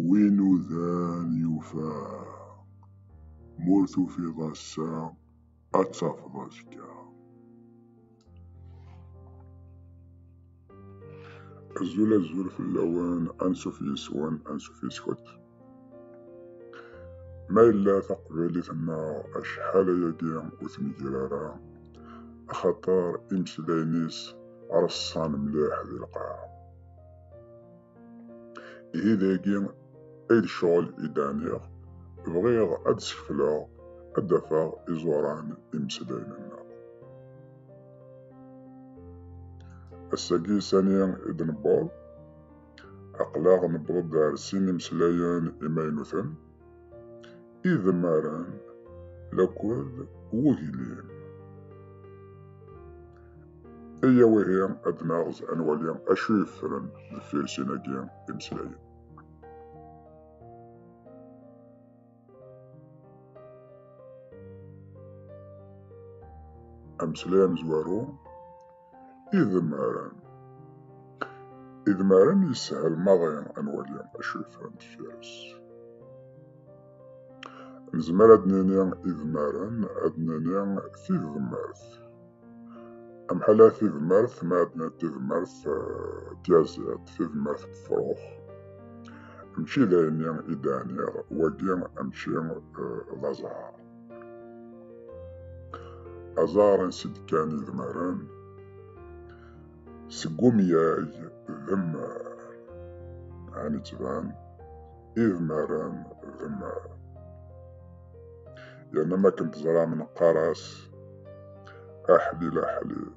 Win udan yufa, ma ur tufiḍ ass-a, ad tafeḍ azekka. Azul azul fell-awen, ansuf yes-wen, ansuf yes-kent. Ma yella taqbaylit-nneɣ acḥal ayagi ur tmegger ara, axaṭer imeslayen-is reṣṣan mliḥ di lqaɛa. Ihi dagi ay d ccɣel i d-ɛniɣ, bɣiɣ ad d-skefleɣ, ad d-afeɣ iẓuran imeslayen-nneɣ. Ass-agi sani i d-newweḍ, aql-aɣ newweḍ-d ar sin imeslayen imaynuten, idemmaren lakul wuglim. Aya wihi ad naɣez ad nwali acu yeffren deffir sin-agi imeslayen. Ameslay amezwaru idmaren idmaren yeshel maḍi ad nwali acu yeffren deffir-s nezmer ad nini idmaren ad nini tidmert amḥala tidmert ma ad nini tidmert tyaziḍt tidmert tefrux mačči d ayen i d-ɛniɣ wagi mačči d aẓar Azaren sidkan idmaren seg umyag d mmar ɛni ttban idmaren d mmar yerna ma akken teẓram neqqar-as aḥlil aḥlil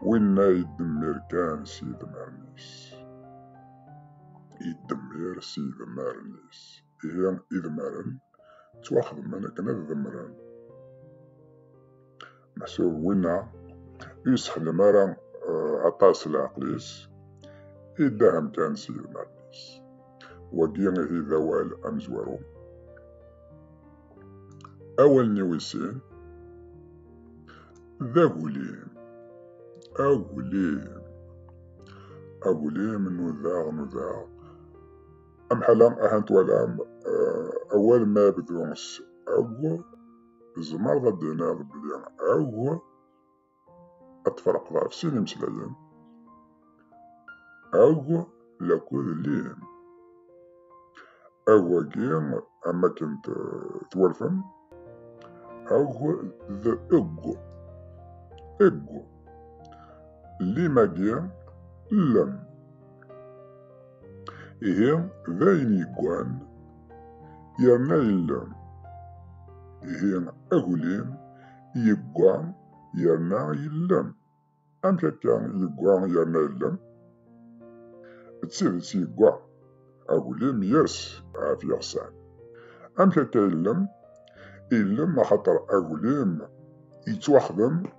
winna yeddemmir kan s yidmaren-is yeddemmir s yidmaren-is ihi idmaren ttwaxedmen akken ad demmren meḥsub winna ur yessexdem ara eh, aṭas leɛqel-is iddahem kan s yidmaren-is wagi ihi d awal amezwaru awal n iwisin d agulim agulim agulim nudaɣ nudaɣ Amḥala ahat twalam awal ma bdu s ag, tzemreḍ ad d-tiniḍ belli ag ad tferqeḍ ɣef sin imeslayen, ag lakud lin. Ag agi am akken twalfem, ag d eg. Eg. Lim agi, lem. Ihi d ayen yeggan yerna yella. Ihi aglim yegga yerna yella. Amek akka yegga yerna yella? D tidet yegga. Aglim yes ɣef yiɣsan. Amek akka illem? Illem axaṭer aglim yettwaxdem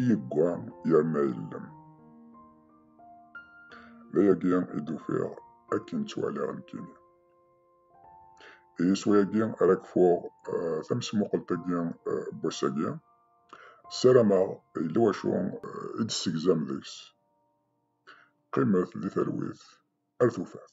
i yeggwa yerna yellem. D ayagi i d-ufiɣ akken ttwaliɣ nekkini. I yiswi-agi ara kfuɣ eh, tamesmuqelt-agi n eh, wass-agi. Ssarameɣ yella wacu eh, i d-ssegzam deg-s. Qqimet di talwit ar tufat.